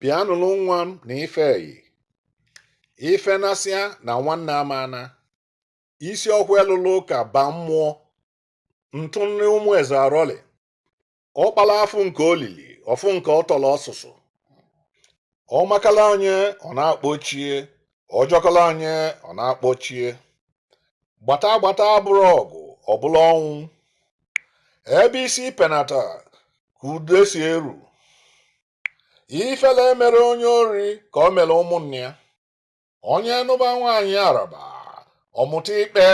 Bịa nụrụ nwa m na ife eyi ife nasịa na nwanne amana isi ọkụ elụlụ ụka ba mmụọ ntụ nri ụmụ eze arọlị ọkpala afụ nke olili ọfụ nke ọtọrọ ọsụsụ ọ makala onye ọ na-akpọ chi e ọ jọkala onye ọ na-akpọ chi e gbata gbata abụrọ ọgụ ọ bụlụ ọnwụ ebe isi penata ka udo si eru ifele emerọ onye ori ka o mere ụmụnne ya onye nụba nwaanyị Araba ọ mụta ikpe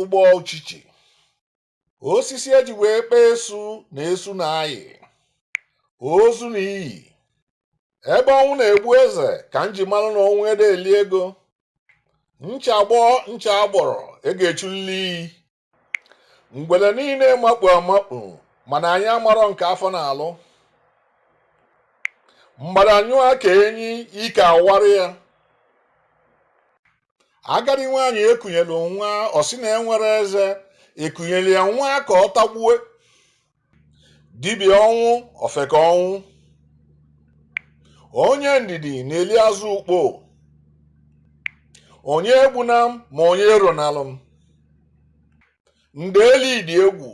ụgbọ uchichi osisi e ji wee kpee esu na esu na-ayị ozu na iyi ebe ọnwụ na-egbu eze ka m ji mara na ọnwụ adị eli ego ncha gbọọ ncha agbọrọ e ga-echulili iyi ngwele niile makpu amakpu mana anyị amarọ nke afọ na-alụ mgbada nyụọ ka enyi ike awara ya agadi nwaanyị e kunyelu nwa ọ sị na enwerọ eze e kunyelu ya nwa ka ọ tagbue dibịa ọnwụ ofeke ọnwụ onye ndidi na-eli azụ ukpo onye egbuna m ma onye eronalụ m ndeli dị egwu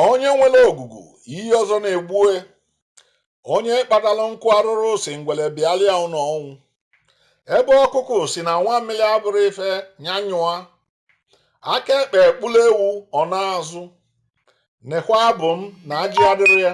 onye nwere ogugu ihe ọzọ na-egbu e onye kpatara nkụ arụrụ sị ngwere bịalịa ụlọ ọnwụ ebe ọkụkụ sị na nwamịrị abụrọ ife nya nyụa aka ekpe ekpuru ewu ọ na-azụ nekwa abụ m na ajị adịrọ ya